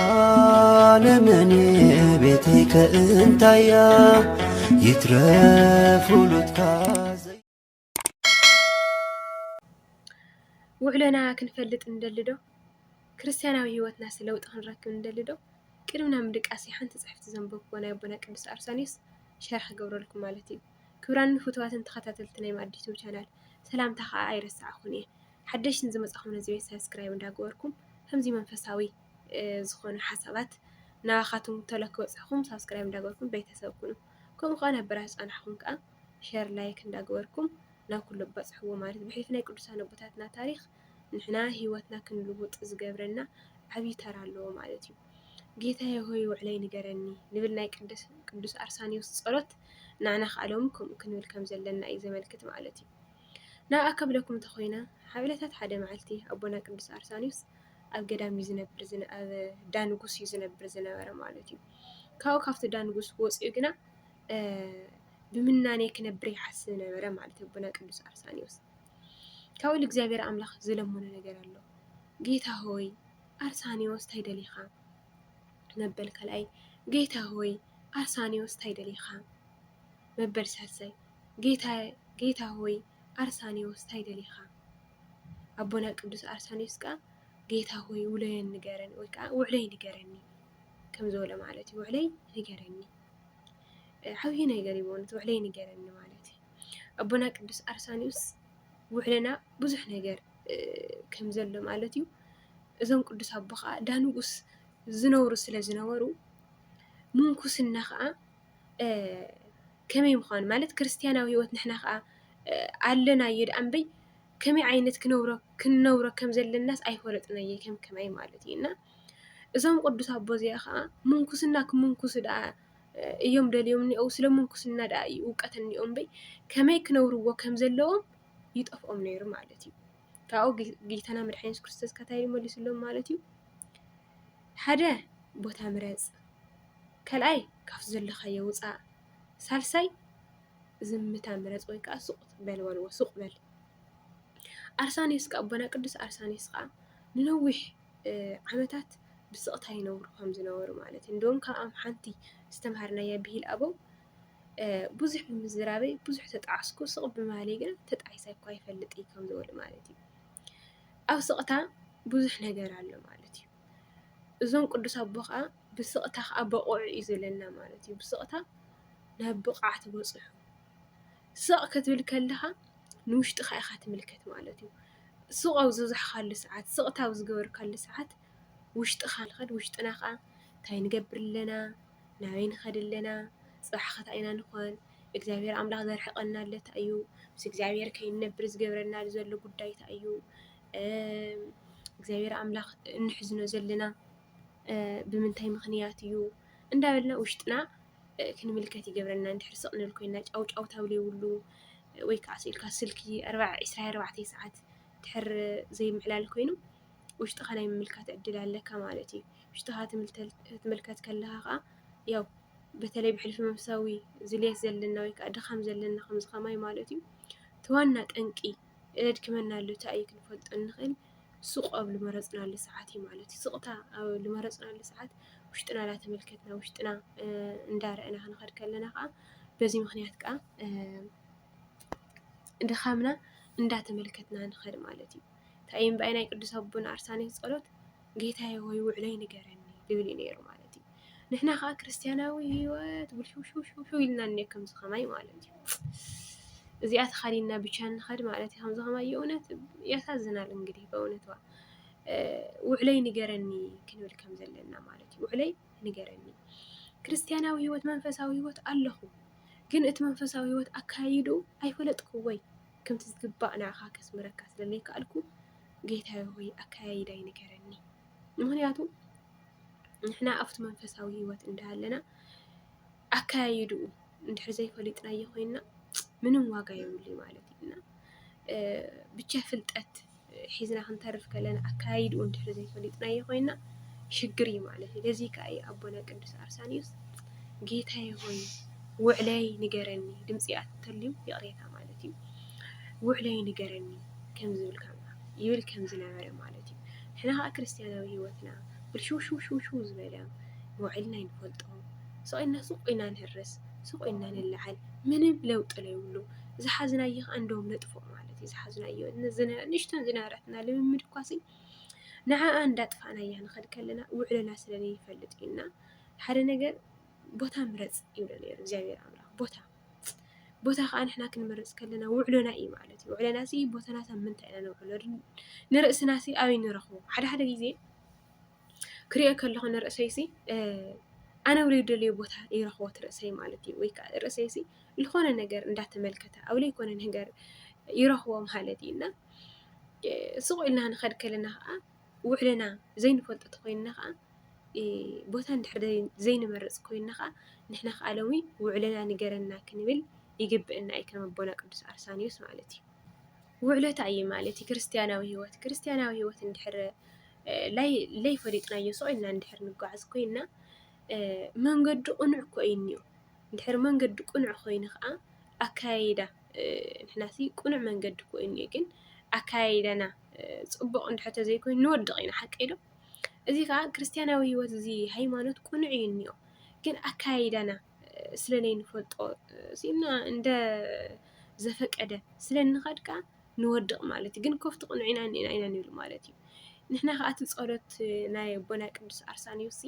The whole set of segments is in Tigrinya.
ዓለመኔ ቤተይ ከእንታያ ይትረፍ ውሉድካ ውዕሎና ክንፈልጥ ንደሊ ዶ ክርስትያናዊ ህይወትናስ ለውጢ ክንረክብ ንደሊ ዶ ቅድምና ምድቃስ ሓንቲ ፅሕፍቲ ዘንበብኩ ናይ ኣቦና ቅዱስ ኣርሳኒዮስ ሸርሒ ክገብረልኩም ማለት እዩ ክብራን ፍትዋትን ተኸታተልቲ ናይ ማዲቱ ቻናል ሰላምታ ከዓ ኣይረሳዕኹን እየ ሓደሽቲ ንዝመፃኹም ነዚ ቤት ሳብስክራይብ እንዳገበርኩም ከምዚ መንፈሳዊ ዝኾኑ ሓሳባት ናባኻትኩም ተሎ ክበፅሕኹም ሳብስክራይብ እንዳገበርኩም ቤተሰብ ኩኑ። ከምኡ ከዓ ናብ በራህ ዝፀናሕኹም ከዓ ሸር ላይክ እንዳገበርኩም ናብ ኩሉ በፅሕዎ ማለት ብሕልፊ ናይ ቅዱሳን ኣቦታትና ታሪክ ንሕና ህይወትና ክንልውጥ ዝገብረና ዓብዪ ተራ ኣለዎ ማለት እዩ። ጌታዬ ሆይ ውዕለይ ንገረኒ ንብል ናይ ቅዱስ ኣርሳኒዎስ ጸሎት ንዓና ከኣሎም ከምኡ ክንብል ከም ዘለና እዩ ዘመልክት ማለት እዩ። ናብኣ ከብለኩም እንተ ኾይነ ኣብ ዕለታት ሓደ መዓልቲ ኣቦና ቅዱስ ኣርሳንዮስ ኣብ ገዳም እዩ ዝነብር ዝነ ኣብ ዳንጉስ እዩ ዝነብር ዝነበረ ማለት እዩ። ካብኡ ካብቲ ዳንጉስ ወፂኡ ግና ብምናኔ ክነብር ይሓስብ ነበረ ማለት እዩ ኣቦና ቅዱስ ኣርሳንዮስ። ካብኡ ልእግዚኣብሔር ኣምላኽ ዝለመኖ ነገር ኣሎ ጌታ ሆይ ኣርሳንዮስ እንታይ ደሊኻ መበል ካልኣይ ጌታ ሆይ ኣርሳንዮስ እንታይ ደሊኻ መበል ሳልሳይ ጌታየ ጌታ ሆይ ኣርሳንዮስ ታይ ደሊኻ ኣቦና ቅዱስ ኣርሳንዮስ ከኣ ጌታ ሆይ ውሎየን ንገረኒ ወይ ከኣ ውዕለይ ንገረኒ ከም ዝበሎ ማለት እዩ ውዕለይ ንገረኒ ዓብዪ ነገር እዩ በእውነት ውዕለይ ንገረኒ ማለት እዩ ኣቦና ቅዱስ ኣርሳንዮስ ውዕለና ብዙሕ ነገር ከም ዘሎ ማለት እዩ እዞም ቅዱስ ኣቦ ከዓ ዳንጉስ ዝነብሩ ስለ ዝነበሩ ምንኩስና ከዓ ከመይ ምዃኑ ማለት ክርስትያናዊ ህይወት ንሕና ኸኣ ኣለናዮ ደኣ እምበይ ከመይ ዓይነት ክንነብሮ ከም ዘለናስ ኣይፈለጥናዮ ከም ከማይ ማለት እዩ እና እዞም ቅዱስ ኣቦ እዚ ኸኣ ምንኩስና ክምንኩሱ ደኣ እዮም ደልዮም እኒኦው ስለ ምንኩስና ደኣ እዩ እውቀት እኒኦም እምበይ ከመይ ክነብርዎ ከም ዘለዎም ይጠፍኦም ነይሩ ማለት እዩ። ካብኡ ጌታና መድሓኒ የሱስ ክርስቶስ ከታይ መሊስሎም ማለት እዩ ሓደ ቦታ ምረጽ ካልኣይ ካብቲ ዘለኻዮ ውፃእ። ሳልሳይ ዝምታ ምረፅ ወይ ከዓ ሱቕ በል በልዎ፣ ሱቕ በል። ኣርሳንዮስ ከዓ ኣቦና ቅዱስ ኣርሳንዮስ ከዓ ንነዊሕ ዓመታት ብስቕታ ይነብሩ ከም ዝነበሩ ማለት እዩ። እንደውም ካብኣም ሓንቲ ዝተምሃርናያ ብሂል ኣበው ብዙሕ ብምዝራበይ ብዙሕ ተጣዕስኩ ስቕ ብማለይ ግን ተጣዒሰ እኳ ይፈልጥ እዩ ከም ዝበሉ ማለት እዩ። ኣብ ስቕታ ብዙሕ ነገር ኣሎ ማለት እዩ። እዞም ቅዱስ ኣቦ ከኣ ብስቕታ ከኣ በቑዑ እዩ ዝብለና ማለት እዩ። ብስቕታ ናብ ብቕዓት በጽሑ። ስቕ ክትብል ከለኻ ንውሽጥኻ ኢኻ ትምልከት ማለት እዩ። ስቕ ኣብ ዝበዛሕካሉ ሰዓት ስቕታ ኣብ ዝገበርካሉ ሰዓት ውሽጥኻ ንኸድ ውሽጥና ከኣ ታይ ንገብር ኣለና ናበይ ንኸድ ኣለና ጽባሕ ከ ታይ ኢና ንኾን እግዚኣብሔር ኣምላኽ ዘርሕቐና ኣሎ ታይ እዩ ምስ እግዚኣብሔር ከይንነብር ዝገብረና ዘሎ ጉዳይ ታይ እዩ። እግዚኣብሔር ኣምላክ እንሕዝኖ ዘለና ብምንታይ ምክንያት እዩ እንዳበልና ውሽጥና ክንምልከት ይገብረና እንድሕር ስቅ ክንብል ኮይና ጫው ጫውታ ዘይብሉ ወይ ከዓ ስቅ ኢልካ ስልኪ ዕስራን ኣርባዕተን ሰዓት እንድሕር ዘይምዕላል ኮይኑ ውሽጥካ ናይ ምምልካት ዕድል ኣለካ ማለት እዩ። ውሽጥካ ክትምልከት ከለካ ከዓ ያው በተለይ ብሕልፊ መንፈሳዊ ዝልየት ዘለና ወይ ከዓ ድካም ዘለና ከምዚ ከማይ ማለት እዩ እቲ ዋና ጠንቂ እነድክመናሉ ታይ እዩ ክንፈልጦ እንኽእል ሱቕ ኣብ ልመረፅናሉ ሰዓት እዩ ማለት እዩ። ስቕታ ኣብ ልመረፅናሉ ሰዓት ውሽጥና እናተመልከትና ውሽጥና እንዳረእና ክንኸድ ከለና ከዓ በዚ ምኽንያት ከዓ ድኻምና እንዳተመልከትና ንኸድ ማለት እዩ። እንታይ እምበኣይ ናይ ቅዱስ ኣቦና ኣርሳኔስ ጸሎት ጌታየ ሆይ ውዕለይ ንገረኒ ልብል እዩ ነይሩ ማለት እዩ። ንሕና ከዓ ክርስትያናዊ ህይወት ውልሽውሽውሽው ኢልና እኒ ከምዚ ከማይ ማለት እዩ። እዚኣ ተኻዲና ብቻ ንኸድ ማለት እዩ። ከምዚ ከማይ የእውነት ያሳዝናል። እንግዲህ በእውነት ውዕለይ ንገረኒ ክንብል ከም ዘለና ማለት እዩ። ውዕለይ ንገረኒ ክርስትያናዊ ህይወት መንፈሳዊ ህይወት ኣለኹ ግን እቲ መንፈሳዊ ህይወት ኣካይዱ ኣይፈለጥኩዎይ ከምቲ ዝግባእ ንዓኻ ከስምረካ ስለ ዘይከኣልኩ ጌታየ ሆይ ኣከያይዳይ ንገረኒ። ምኽንያቱ ንሕና ኣብቲ መንፈሳዊ ህይወት እንዳሃለና ኣከያይድኡ እንድሕር ዘይፈሊጥናዮ ኮይንና ምንም ዋጋ የብሉይ ማለት እዩ እና ብቻ ፍልጠት ሒዝና ክንተርፍ ከለና ኣከያይድኡ እንድሕር ዘይፈሊጥናዮ ኮይና ሽግር እዩ ማለት እዩ። ለዚ ከኣ እዩ ኣቦና ቅዱስ ኣርሳኒዮስ ጌታዬ ሆይ ውዕለይ ንገረኒ ድምፂ ኣተልዩ ይቕሬታ ማለት እዩ ውዕለይ ንገረኒ ከም ዝብል ይብል ከም ዝነበረ ማለት እዩ ሕና ከዓ ክርስትያናዊ ህይወትና ብልሽውሽውሽውሽው ዝበለ ውዕልና ይንፈልጦ ስቕኢልና ሱቕ ኢና ንህርስ ሱቕ ኢና ንለዓል ምንም ለውጢ ለይብሉ ዝሓዝናዮ ከዓ እንደውም ነጥፍኦ ማለት እዩ ዝሓዝናዮ ንእሽተን ዝነበረትና ልምምድ እኳ ሲ ንዓኣ እንዳጥፋእናያ ንኸድ ከለና ውዕሎና ስለ ዘይፈልጥ እዩና ሓደ ነገር ቦታ ምረፅ ይብሎ ነይሩ እግዚኣብሔር ኣምላኽ ቦታ ቦታ ከዓ ንሕና ክንመርፅ ከለና ውዕሎና እዩ ማለት እዩ ውዕሎና ሲ ቦታናት ኣብ ምንታይ ኢና ነውዕሎ ንርእስና ሲ ኣበይ ንረኽቦ ሓደ ሓደ ግዜ ክሪኦ ከለኹ ንርእሰይ ሲ ኣነ እውን ዝደልዮ ቦታ ይረኽቦ እቲ ርእሰይ ማለት እዩ። ወይ ከዓ ርእሰይ ሲ ዝኾነ ነገር እንዳተመልከተ ኣብ ዘይኮነ ነገር ይረኽቦ ማለት እዩ እና ስቕ ኢልና ክንኸድ ከለና ከዓ ውዕለና ዘይንፈልጦ እንተኾይንና ከዓ ቦታ እንድሕር ዘይንመርፅ ኮይንና ከዓ ንሕና ከዓ ሎሚ ውዕለና ንገረና ክንብል ይግበአና እዩ ከም ኣቦና ቅዱስ ኣርሳንዮስ ማለት እዩ። ውዕሎ እንታይ እዩ ማለት እዩ? ክርስትያናዊ ህይወት ክርስትያናዊ ህይወት እንድሕር ለይፈሊጥናዮ ስቕ ኢልና እንድሕር ንጓዓዝ ኮይና መንገዱ ቅኑዕ እኮ እዩ እኒኦ። እንድሕር መንገዱ ቅኑዕ ኮይኑ ከዓ ኣከያይዳ ንሕናሲ ቅኑዕ መንገዲ እኮ እዩ እኒኦ ግን ኣከያይዳና ፅቡቕ እንድሕር ተዘይኮይኑ ንወድቕ ኢና ሓቂ ዶ? እዚ ከዓ ክርስትያናዊ ህይወት እዚ ሃይማኖት ቅኑዕ እዩ እኒኦ ግን ኣከያይዳና ስለለይንፈልጦ ስኢና እንደ ዘፈቀደ ስለንኸድ ከዓ ንወድቕ ማለት እዩ። ግን ኮፍ ትቕንዑ ኢና እኒኤና ኢና ንብል ማለት እዩ። ንሕና ከኣ እቲ ጸሎት ናይ ኣቦና ቅዱስ ኣርሳንዮስሲ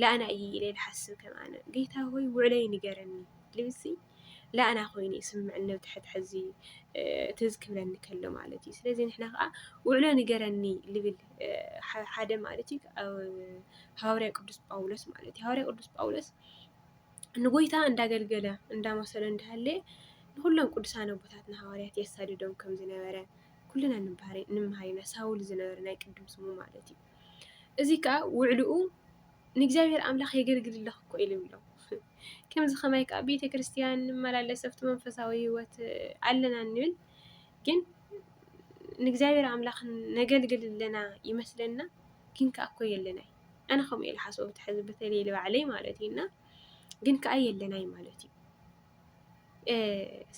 ለኣና እዩ ኢለ ልሓስብ ከም ኣነ ጌታ ሆይ ውዕለይ ንገረኒ ልብሲ ለኣና ኮይኑ ይስምዕኒ ነብቲ ሕድሕዚ ትዝ ክብለኒ ከሎ ማለት እዩ። ስለዚ ንሕና ከኣ ውዕሎ ንገረኒ ልብል ሓደ ማለት እዩ ሃዋርያ ቅዱስ ጳውሎስ ማለት እዩ። ሃዋርያ ቅዱስ ጳውሎስ ንጎይታ እንዳገልገለ እንዳመሰሎ እንዳሃለየ ንኹሎም ቅዱሳን ኣቦታትና ሃዋርያት የሳድዶም ከም ዝነበረ ኩልና ንምሃር ኢና። ሳውል ዝነበረ ናይ ቅድም ስሙ ማለት እዩ። እዚ ከዓ ውዕልኡ ንእግዚኣብሔር ኣምላኽ የገልግልለኽ እኮ ኢሉ ይብሎ። ከምዚ ከማይ ከዓ ቤተ ክርስቲያን ንመላለስ ኣብቲ መንፈሳዊ ህይወት ኣለና ንብል ግን ንእግዚኣብሔር ኣምላኽ ነገልግል ኣለና ይመስለና ግን ከዓ እኮ የለናይ። ኣነ ከምኡ እየ ዝሓስቦ በቲ ሕዚ በተለይ ንባዕለይ ማለት እዩ እና ግን ከዓ የለናይ ማለት እዩ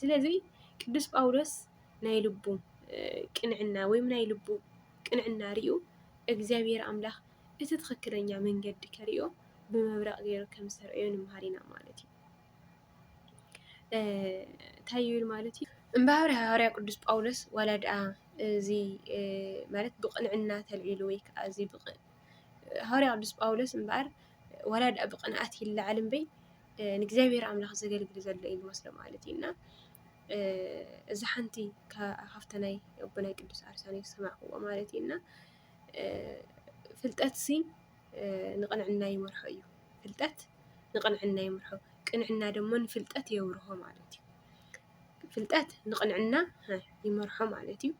ስለዚ ቅዱስ ጳውሎስ ናይ ልቡ ቅንዕና ወይም ናይ ልቡ ቅንዕና ርዩ እግዚኣብሔር ኣምላኽ እቲ ትኽክለኛ መንገዲ ከሪኦ ብመብረቕ ገይሩ ከም ዝተርእዮ ንምሃር ኢና ማለት እዩ እንታይ ይብል ማለት እዩ እምበኣር ሃዋርያ ቅዱስ ጳውሎስ ዋላ ድኣ እዚ ማለት ብቕንዕና ተልዒሉ ወይ ከዓ እዚ ሃዋርያ ቅዱስ ጳውሎስ እምበኣር ዋላ ድኣ ብቕንኣት ይለዓል እምበይ ንእግዚኣብሔር ኣምላኽ ዘገልግል ዘሎ እዩ ዝመስሎ ማለት እዩ እና እዚ ሓንቲ ካብቲ ናይ ኣቦና ቅዱስ ኣርሳንዮስ ዝሰማዕክዎ ማለት እዩ እና ፍልጠትሲ ንቕንዕና ይመርሖ እዩ። ፍልጠት ንቕንዕና ይመርሖ፣ ቅንዕና ድማ ንፍልጠት የብርሆ ማለት እዩ። ፍልጠት ንቕንዕና ይመርሖ ማለት እዩ።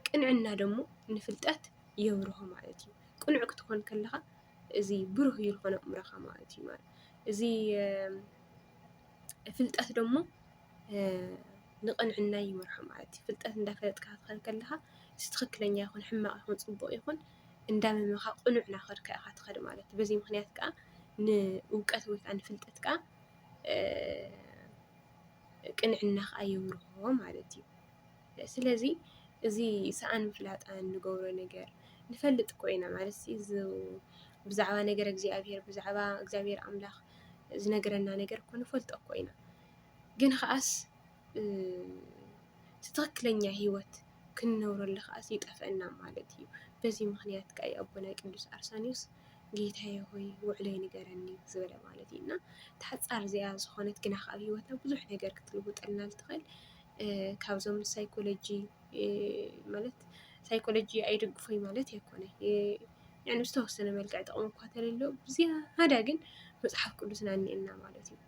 ቅንዕና ደግሞ ንፍልጠት የብርሆ ማለት እዩ። ቅኑዕ ክትኾን ከለኻ እዚ ብሩህ እዩ ዝኾነ ኣእምሮኻ ማለት እዩ። እዚ ፍልጠት ደግሞ ንቕንዕና ይመርሖ ማለት እዩ። ፍልጠት እንዳፈለጥካ ክትኸይድ ከለኻ እዚ ትኽክለኛ ይኹን ሕማቕ ይኹን ፅቡቕ ይኹን እንዳመመኻ ቅኑዕ ናኸድካ ኢኻ ትኸድ ማለት እዩ። በዚ ምኽንያት ከኣ ንእውቀት ወይ ከኣ ንፍልጠት ከኣ ቅንዕና ከኣ የብርሆ ማለት እዩ። ስለዚ እዚ ሰኣን ምፍላጣን ንገብሮ ነገር ንፈልጥ እኮ ኢና ማለት እዚ ብዛዕባ ነገር እግዚኣብሄር ብዛዕባ እግዚኣብሄር ኣምላኽ ዝነግረና ነገር እኮ ንፈልጦ እኮ ኢና ግን ኸኣስ ትኽክለኛ ሂወት ክንነብረሉ ከዓ ይጠፍኣና ማለት እዩ። በዚ ምኽንያት ከዓ እዩ ኣቦና ቅዱስ ኣርሳንዮስ ጌታየ ሆይ ውዕለይ ንገረኒ ዝበለ ማለት እዩ። እና እታ ሓፃር እዚኣ ዝኾነት ግና ከዓ ኣብ ሂወትና ብዙሕ ነገር ክትልውጠልና እትኽእል ካብዞም ሳይኮሎጂ ማለት ሳይኮሎጂ ኣይድግፎይ ማለት ኣይኮነይ ብዝተወሰነ መልክዕ ጥቕሚ እኳ እንተልዮ ብዝያዳ ግን መፅሓፍ ቅዱስና እኒኤና ማለት እዩ።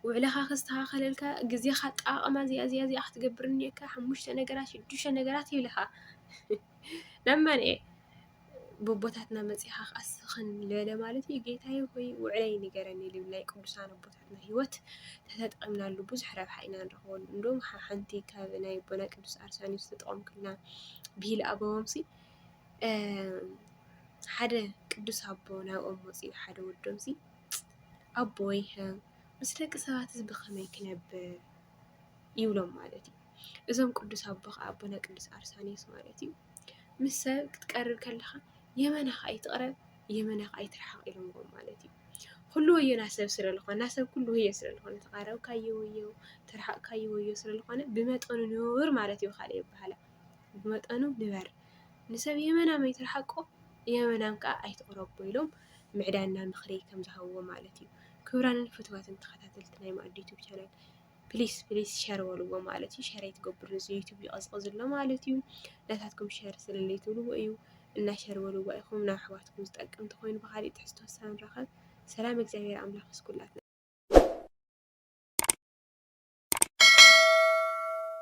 ውዕለኻ ከስተኻኸለልካ ግዜኻ ኣጠቓቕማ እዚኣ እዚኣ እዚኣ ክትገብር እኒኦካ ሓሙሽተ ነገራት ሽዱሽተ ነገራት ይብልኻ ናብ መን እየ ቦቦታትና መፂኻ ክኣስኽን ልበለ ማለት እዩ ጌታዬ ሆይ ውዕለይ ንገረኒ ልብል ናይ ቅዱሳን ኣቦታትና ሂወት ተተጠቒምናሉ ብዙሕ ረብሓ ኢና ንረኽበሉ እንዶም ሓንቲ ካብ ናይ ኣቦና ቅዱስ ኣርሳኒዮስ ዝተጠቐምኩልና ብሂል ኣበዎምሲ ሓደ ቅዱስ ኣቦ ናብኦም መፂኡ ሓደ ወዶምሲ ኣቦይሀ ምስ ደቂ ሰባትስ ብኸመይ ክነብር ይብሎም ማለት እዩ። እዞም ቅዱስ ኣቦ ከዓ ኣቦነ ቅዱስ ኣርሳኒዮስ ማለት እዩ ምስ ሰብ ክትቀርብ ከለኻ የመናኻ ኣይትቕረብ የመናኻ ኣይትርሓቕ ኢሎምዎ ማለት እዩ። ኩሉ ወዮና ሰብ ስለ ዝኾና ሰብ ኩሉ ወዮ ስለ ዝኾነ ተቓረብካዮ ወዮ ተርሓቕካዮ ወዮ ስለ ዝኾነ ብመጠኑ ንቡር ማለት እዩ ካልእ ይበሃላ ብመጠኑ ንበር፣ ንሰብ የመናም ኣይትርሓቆ፣ የመናም ከኣ ኣይትቕረቦ ኢሎም ምዕዳና ምኽሪ ከም ዝሃብዎ ማለት እዩ። ክብራንን ፍትዋትን ተኸታተልቲ ናይ ማኣዲ ዩቱብ ቻናል ፕሊስ ፕሊስ ሸር በልዎ ማለት እዩ። ሸር ኣይትገብሩ እዚ ዩቱብ ይቐዝቕዝ ኣሎ ማለት እዩ። ናታትኩም ሸር ስለለይ ትብልዎ እዩ እና ሸር በልዎ ኢኹም ናብ ኣሕዋትኩም ዝጠቅም ተኾይኑ ብኻሊእ ትሕዝቶ ሳንራኸብ ሰላም እግዚኣብሔር ኣምላኽ ምስ ኩላትና